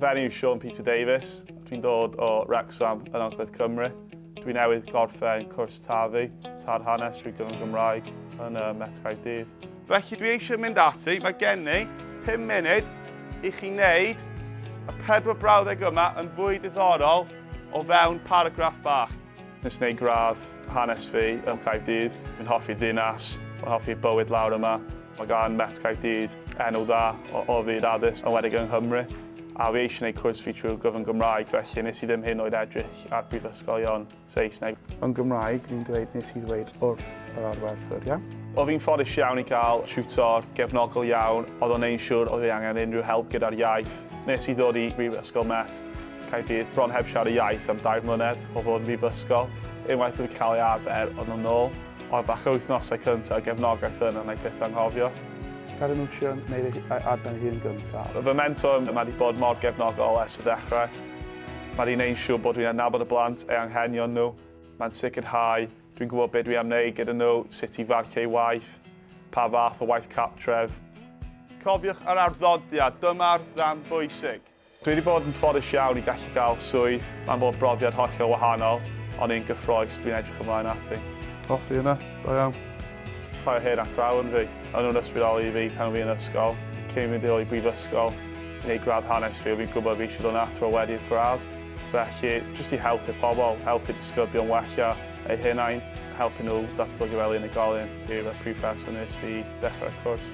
Fy enw yw Sean Peter Davies. Dwi'n dod o Wrexham yn Angledd Cymru. Dwi'n newydd gorffen cwrs tafu, tad hanes trwy gyfrwng Gymraeg yn y Met Caerdydd. Felly dwi eisiau mynd ati, mae gen i 5 munud i chi wneud y pedwar brawddeg yma yn fwy diddorol o fewn paragraff bach. Nes wneud gradd hanes fi ym Caerdydd. Fi'n hoffi'r ddinas, fi'n hoffi'r bywyd lawr yma. Mae gan Met Caerdydd enw dda o fyd addysg, enwedig yng Nghymru. A fi eisiau gwneud cwrs fi trwy gyfrwng Gymraeg, felly nes i ddim hyd yn oed edrych ar brifysgolion Saesneg. Yn Gymraeg, fi'n dweud nes i ddweud wrth yr arwerthwr, iawn? Oedd fi'n ffodus iawn i gael tiwtor gefnogol iawn, oedd o'n neud yn siŵr oedd fi angen unrhyw help gyda'r iaith. Nes i ddod i Brifysgol Met, Caerdydd bron heb siarad y iaith am dair mlynedd o fod yn brifysgol, unwaith wedi cael ei arfer arno nôl, ond falle'r wythnosau cyntaf o gefnogaeth yna wna i byth anghofio. Cael ei mwsio yn gwneud ei arfer ei hun gyntaf. Fy mentor, mae 'di bod mor gefnogol ers y dechrau. Mae 'di wneud yn siŵr bod dwi'n adnabod y blant, eu anghenion nhw. Mae'n sicrhau dwi'n gwybod be dwi am wneud gyda nhw, sut i farcio eu waith, pa fath o waith cartref. Cofiwch yr arddodiad, dyma'r rhan bwysig. Dwi wedi bod yn ffodus iawn i gallu cael swydd, mae'n bod brofiad hollol wahanol, ond un gyffroes dwi'n edrych ymlaen ati. Os fi yna, da iawn. Rhai o hen athrawon fi, o'n nhw'n ysbrydoli fi pan o'n fi yn ysgol, cyn mynd i'r brifysgol i wneud gradd hanes fi, o'n fi'n gwybod fi eisiau dod yn athro wedi'r gradd, felly jyst i helpu pobl, helpu disgyblion wella eu hunain, helpu nhw ddatblygu fel unigolyn yw'r prif rheswm wnes i ddechrau'r cwrs.